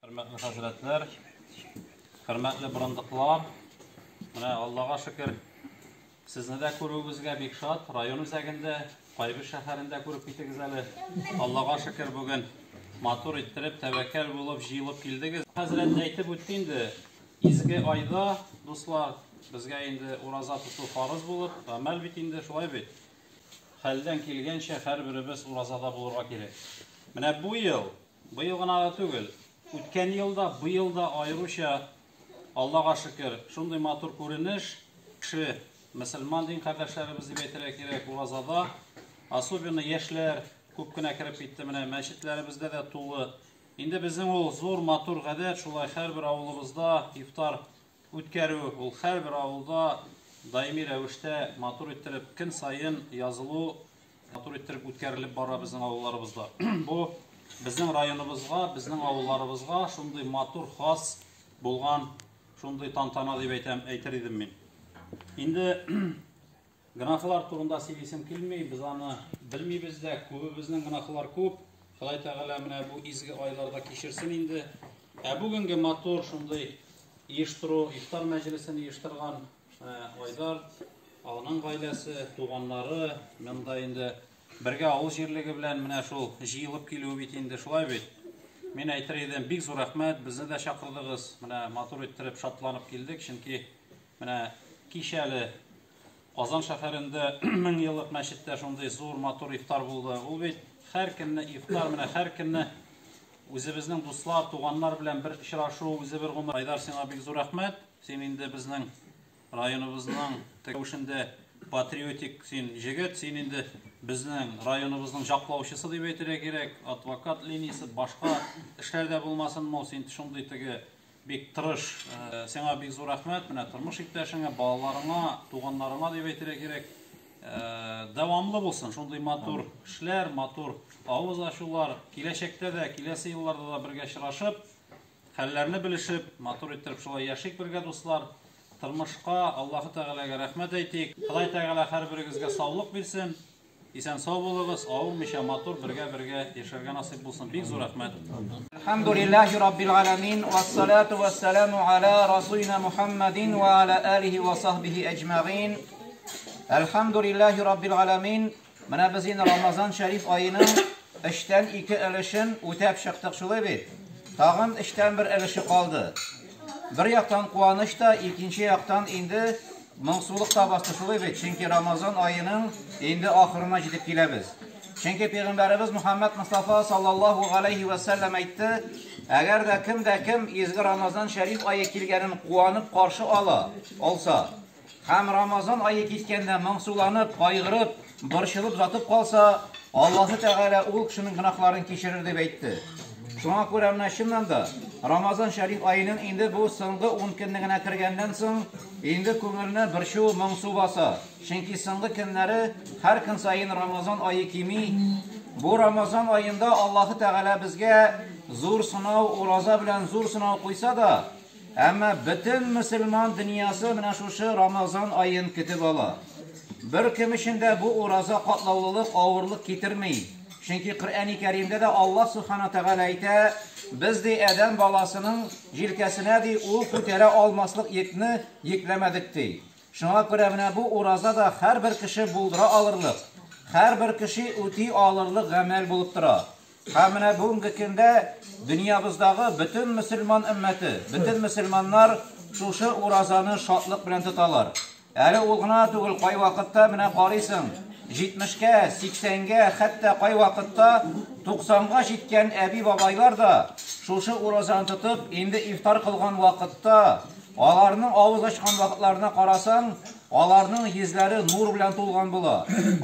Хөрмәтле хәзрәтләр, хөрмәтле борындыклар, менә Аллага шөкер, сезне дә күрүебезгә бик шат. Район үзәгендә, Кайбыч шәһәрендә күреп китегез әле. Аллага шөкер, бүген матур иттереп, тәвәккәл булып, җыелып килдегез. Хәзрәт әйтеп үтте инде, изге айда, дуслар, безгә инде ураза тоту фарыз булып, гамәл бит инде, шулай бит. Хәлдән килгәнчә һәрберебез уразада булырга кирәк. Менә бу ел Быел гына да түгел, үткән ел да, быел да аеруча, Аллага шөкер, шундый матур күренеш, кеше, мөселман дин кардәшләребез дип әйтергә кирәк, уразада, особенно яшьләр күп кенә кереп китте, менә мәчетләребездә дә тулы. Инде безнең ул зур матур гадәт, шулай һәрбер авылыбызда ифтар үткәрү, ул һәрбер авылда даими рәвештә матур иттереп көн саен язылу матур иттереп үткәрелеп бара безнең авылларыбызда. Бу безнең районыбызга, безнең авылларыбызга шундый матур, хас булган шундый тантана дип әйтәм, әйтер идем мин. Инде Гөнаһлар турында сөйлисем килми, без аны белмибез дә, күбебезнең гөнаһлар күп. Ходай Тәгалә менә бу изге айларда кичерсен инде. Ә бүгенге матур шундый оештыру, ифтар мәҗлесен оештырган Айдар, аның гаиләсе, туганнары, монда инде бергә авыл җирлеге белән менә шул җыелып килүе бит инде шулай бит. Мин әйтер идем, бик зур рәхмәт, безне дә чакырдыгыз. Менә матур иттереп, шатланып килдек, чөнки менә кичәле Казан шәһәрендә мең еллык мәчеттә шундый зур матур ифтар булды. Ул бит һәркемне ифтар менә һәркемне үзебезнең дуслар, туганнар белән бер очрашу, үзе бер гомер. Айдар, сиңа бик зур рәхмәт. Син инде безнең районыбызның тегүшендә патриотик син җегет, син инде безнең районыбызның җаклаучысы дип әйтергә кирәк. Адвокат линиясе башка эшләрдә булмасын, мол син шундый теге Бик тырыш, сиңа бик зур рәхмәт, менә тормыш иптәшеңә, балаларыңа, туганнарыңа дип әйтергә кирәк. Дәвамлы булсын шундый матур эшләр, матур авыз ачулар. Киләчәктә дә, киләсе елларда да бергә очрашып, хәлләрне белешеп, матур иттереп шулай яшик бергә, дуслар. Тормышка, Аллаһы Тәгаләгә рәхмәт әйтик. Ходай Тәгалә һәрберегезгә саулык бирсен. Исән сау булыгыз, авырмыйча, матур бергә бергә яшәргә насыйп булсын, бик зур рәхмәт. Әлхәмдүлилләһи раббил галәмин, вассалату вассаламу аля расулина Мухаммадин ва аля алихи ва сахбихи әҗмәгин. Әлхәмдүлилләһи раббил галәмин, менә без инде Рамазан шәриф аеның эштән ике өлешен үтәп чыктык шулай бит. Тагын эштән бер өлеше калды. Бер яктан куаныч та, икенче яктан инде Моңсулык та бастырсулый бит, чөнки Рамазан аеның инде ахырына җитеп киләбез. Чөнки Пәйгамбәребез Мөхәммәд Мостафа саллаллаһу галәйһи вә сәлләм әйтте, Әгәр дә кем дә кем изге Рамазан шәриф ае килгәнен куанып каршы ала, алса, һәм Рамазан ае киткәндә моңсуланып, кайгырып, Борчылып ятып калса, Аллаһы Тәгалә ул кешенең гөнаһларын кичерер дип әйтте. Шуңа күрә менә чыннан да, Рамазан шәриф аеның инде бу соңгы ун көннегенә кергәннән соң, инде күңелне борчу, моңсу баса. Чөнки соңгы көннәре һәр көн саен Рамазан ае кими. Бу Рамазан аенда Аллаһы Тәгалә безгә зур сынау, ураза белән зур сынау куйса да, Әмма бөтен мөселман дөньясы менә шушы Рамазан аен көтеп ала. Беркем өчен дә бу ураза катлаулылык, авырлык китерми. Чөнки Коръәни Кәримдә дә Аллаһ Сүбхәнәһү Тәгалә әйтә, Без, ди, адәм баласының җилкәсенә, ди, ул күтәрә алмаслык йөкне йөкләмәдек, ди. Шуңа күрә менә бу ураза да һәрбер кеше булдыра алырлык, һәрбер кеше үти алырлык гамәл булып тора. Һәм менә бүгенге көндә дөньябыздагы бөтен мөселман өммәте, бөтен мөселманнар шушы уразаны шатлык белән тоталар. Әле ул гына түгел, кайвакытта менә карыйсың, җитмешкә, сиксәнгә, хәтта кайвакытта туксанга җиткән әби-бабайлар да шушы уразаны тотып, инде ифтар кылган вакытта, аларның авыз ачкан вакытларына карасаң, Аларның йөзләре нур белән тулган була.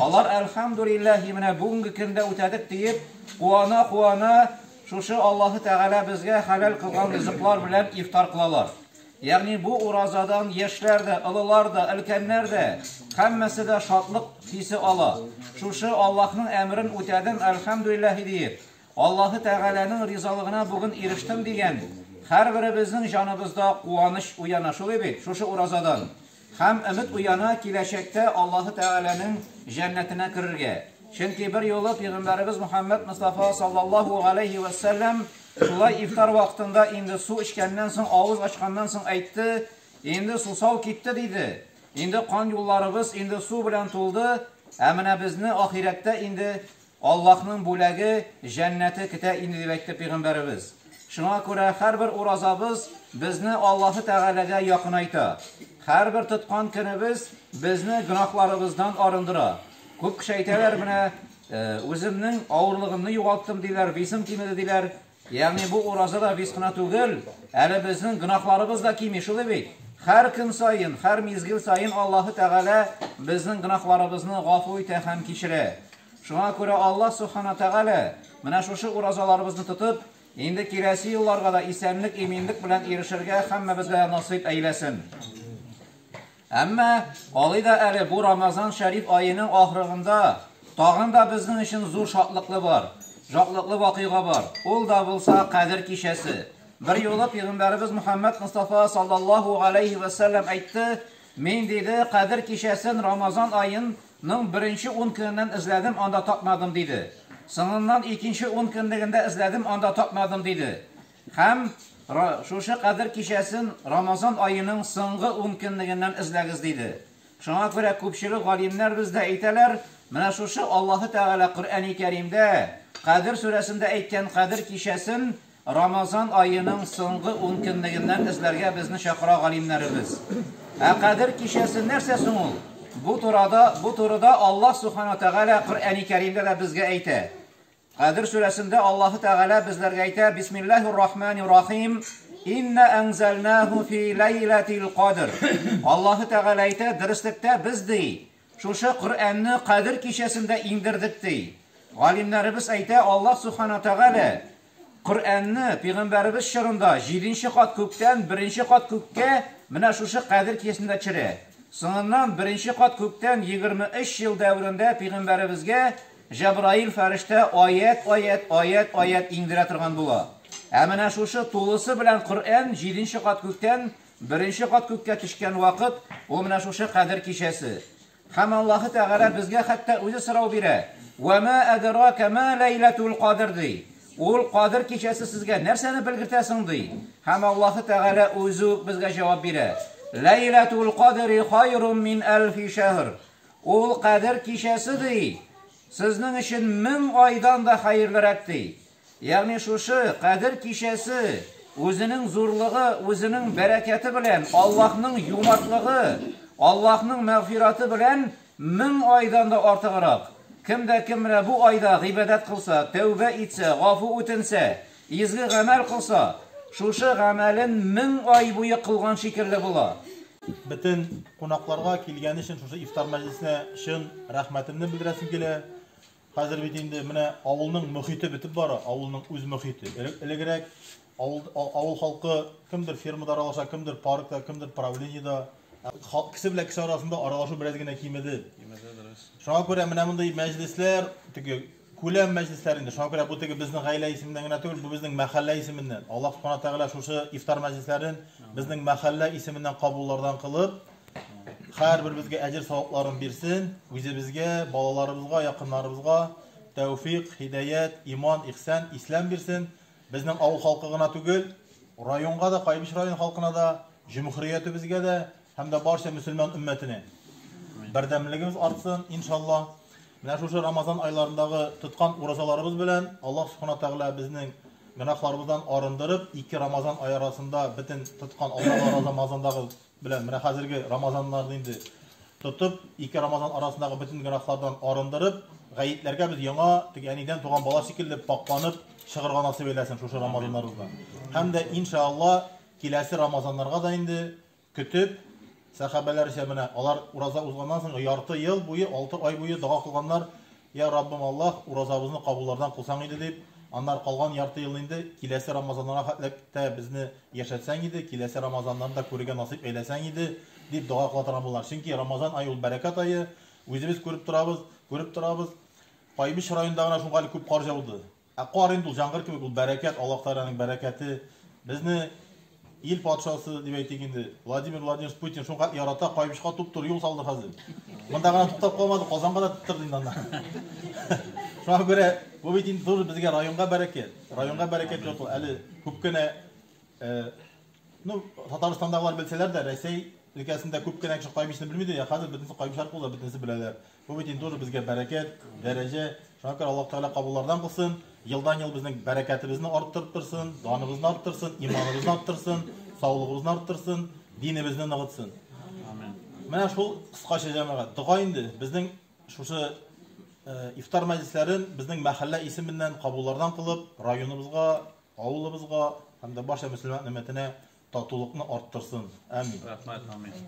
Алар, Әлхәмдүлилләһи, менә бүгенге көндә үтәдек, диеп, куана-куана, шушы Аллаһы Тәгалә безгә хәләл кылган ризыклар белән ифтар кылалар. Ягъни бу уразадан яшьләр дә, олылар да, өлкәннәр дә, һәммәсе дә шатлык хисе ала. Шушы Аллаһның әмерен үтәдем, Әлхәмдүлилләһи, диеп, Аллаһы Тәгаләнең ризалыгына бүген ирештем дигән һәрберебезнең җаныбызда куаныч уяна шулай бит, шушы уразадан. Һәм өмет уяна киләчәктә Аллаһы Тәгаләнең җәннәтенә керергә. Чөнки бер юлы пигамбәребез Мөхәммәд Мостафа саллаллаһу галәйһи вә сәлләм шулай ифтар вакытында инде су эчкәннән соң, авыз ачканнан соң әйтте, Инде сусау китте, диде. Инде кан юлларыбыз инде су белән тулды, ә менә безне ахирәттә инде Аллаһның бүләге, җәннәте көтә инде дип әйтте Пәйгамбәребез. Шуңа күрә һәрбер уразабыз безне Аллаһы Тәгаләгә якынайта. Һәрбер тоткан көнебез безне гөнаһларыбыздан арындыра. Күп кеше әйтәләр, менә, үземнең авырлыгымны югалттым, диләр, весым кимеде, диләр. Ягъни бу ураза да виз кына түгел, әле безнең гөнаһларыбыз да кими, шулай бит? Һәр көн саен, һәр мизгел саен Аллаһы Тәгалә безнең гөнаһларыбызны гафу итә һәм кичерә. Шуңа күрә Аллаһ Субхана Тәгалә, менә шушы уразаларыбызны тотып, инде киләсе елларга да исәнлек-иминлек белән ирешергә һәммәбезгә насыйп әйләсен. Әмма алай да әле бу Рамазан шәриф аеның ахрыгында тагын да безнең өчен зур шатлыклы бар, жатлыклы вакыйга бар, ул да булса Кадер кичәсе. Бер юлы Пигамбәребез Мөхәммәд Мостафа саллаллаһу галәйһи вә сәлләм әйтте, Мин, диде, Кадер кичәсен Рамазан аен ның беренче ун көненнән эзләдем, анда тапмадым, диде. Соңыннан икенче ун көнлегендә эзләдем, анда тапмадым, диде. Һәм Ра, шушы Кадер кичәсен Рамазан аеның соңгы ункөнлегеннән эзләгез, диде. Шуңа күрә күпчелек галимнәр бездә әйтәләр, менә шушы Аллаһы Тәгалә Коръәни Кәримдә Кадер сүрәсендә әйткән Кадер кичәсен Рамазан аеның соңгы ункөнлегеннән эзләргә безне чакыра галимнәребез. Ә Кадер кичәсе нәрсә соң ул? Бу турада, бу турыда Аллаһ Субхана Тәгалә Коръәни Кәримдә дә безгә әйтә. Кадер сүрәсендә Аллаһы Тәгалә безләргә әйтә, Бисмиллаһир рахманир рахим, Инна әнзәлнәһү фи ләйләтил кадр. Аллаһы Тәгалә әйтә, Дөреслектә без, ди, шушы Коръәнне Кадер кичәсендә иңдердек, ди. Галимнәребез әйтә, Аллаһ Субхана Тәгалә Коръәнне пигамбәребез чорында җиденче кат күктән беренче кат күккә менә шушы Кадер кичәсендә төшерә. Соңыннан беренче кат күктән егерме өч ел дәверендә пигамбәребезгә Җәбраил фәрештә аять-аять, аять-аять иңдерә торган була. Ә менә шушы тулысы белән Коръән җиденче кат күктән беренче кат күккә төшкән вакыт, ул менә шушы Кадер кичәсе. Һәм Аллаһы Тәгалә безгә хәтта үзе сорау бирә, Вә мә әдерәкә мә ләйләтүл кадер, ди. Ул, Кадер кичәсе сезгә нәрсәне белгертә соң? ди. Һәм Аллаһы Тәгалә үзе үк безгә җавап бирә, Ләйләтүл кадери хайрум мин әлфи шәһр. Ул Кадер кичәсе, ди, сезнең өчен мең айдан да хәерлерәк, ди. Ягъни шушы Кадер кичәсе үзенең зурлыгы, үзенең бәрәкәте белән, Аллаһның юмартлыгы, Аллаһның мәгъфираты белән мең айдан да артыграк. Кем дә кем менә бу айда гыйбадәт кылса, тәүбә итсә, гафу үтенсә, Изге гамәл кылса, шушы гамәлен мең ай буе кылган шикелле була. Бөтен кунакларга килгәне өчен шушы ифтар мәҗлесенә чын рәхмәтемне белдерәсем килә. Хәзер бит инде менә авылның мохите бетеп бара, авылның үз мохите. Элегрәк авыл авыл халкы кемдер фермада аралаша, кемдер паркта, кемдер правлениедә. Кеше белән кеше арасында аралашу бераз генә кимеде. Шуңа күрә менә мондый мәҗлесләр, теге Күләм мәҗлесләре инде, шуңа күрә бу теге безнең гаилә исеменнән генә түгел, бу безнең мәхәллә исеменнән. Аллаһ Субхана Тәгалә шушы ифтар мәҗлесләрен безнең мәхәллә исеменнән кабуллардан кылып, һәрберебезгә әҗер-савапларын бирсен, үзебезгә, балаларыбызга, якыннарыбызга тәүфыйк, һидаять, иман, ихсән, исләм бирсен, безнең авыл халкы гына түгел, районга да, Кайбыч районы халкына да, җөмһүриятебезгә дә, һәм дә барча мөселман өммәтенә бердәмлегебез артсын, иншалла. Менә шушы Рамазан айларындагы тоткан уразаларыбыз белән Аллаһ Субхана Тәгалә безнең гөнаһларыбыздан арындырып, ике Рамазан ай арасында бөтен тоткан алдагы Рамазандагы белән менә хәзерге Рамазаннарны инде тотып, ике Рамазан арасындагы бөтен гөнаһлардан арындырып, гаетләргә без яңа теге әнидән туган бала шикелле пакъланып чыгырга насыйп әйләсен шушы Рамазаннарыбызда. Һәм дә иншалла киләсе Рамазаннарга да инде Көтеп, сәхабәләрчә менә алар ураза узганнан соң ярты ел буе, алты ай буе дога кылганнар, Йә, Раббым Аллаһ, уразабызны кабуллардан кылсаң иде, дип, аннары калган ярты елны инде киләсе Рамазаннарга хәтләп тә безне яшәтсәң иде, киләсе Рамазаннарны да күрергә насыйп әйләсәң иде, дип дога кыла торган булганнар. Чөнки Рамазан ае ул бәрәкәт ае, үзебез күреп торабыз, күреп торабыз, Кайбыч районында гына шуңа әле күп кар җауды. Ә кар инде ул җангыр кебек, ул бәрәкәт, Аллаһ Тәгаләнең бәрәкәте. Безне ил патшасы, дип әйтик инде, Владимир Владимирович Путин шуңкадәр ярата, Каенбычка туп-туры юл салды хәзер. Монда гына туктап калмады, Казанга да титтырды инде анда. Шуңа күрә бу бит инде тоже безгә районга бәрәкәт. Районга бәрәкәт йорт ул. Әле күп кенә э, ну, Татарстандагылар белсәләр дә, Рәсәй өлкәсендә күп кенә кеше Каенбычны белмидер, я хәзер бөтенесе Каенбыч аркылы да бөтенесе беләләр. Бу бит инде уже безгә бәрәкәт, дәрәҗә. Шуңа күрә Аллаһ Тәгалә кабуллардан булсын. Елдан-ел безнең бәрәкәтебезне арттырып торсын, даныбызны арттырсын, иманыбызны арттырсын, саулыгыбызны арттырсын, динебезне ныгытсын. Амин. Менә шул кыскача җәмәгать. Дога инде безнең шушы э, ифтар мәҗлесләрен безнең мәхәллә исеменнән кабуллардан кылып, районыбызга, авылыбызга һәм дә барча мөселман өммәтенә татулыкны арттырсын. Амин. Рәхмәт, амин.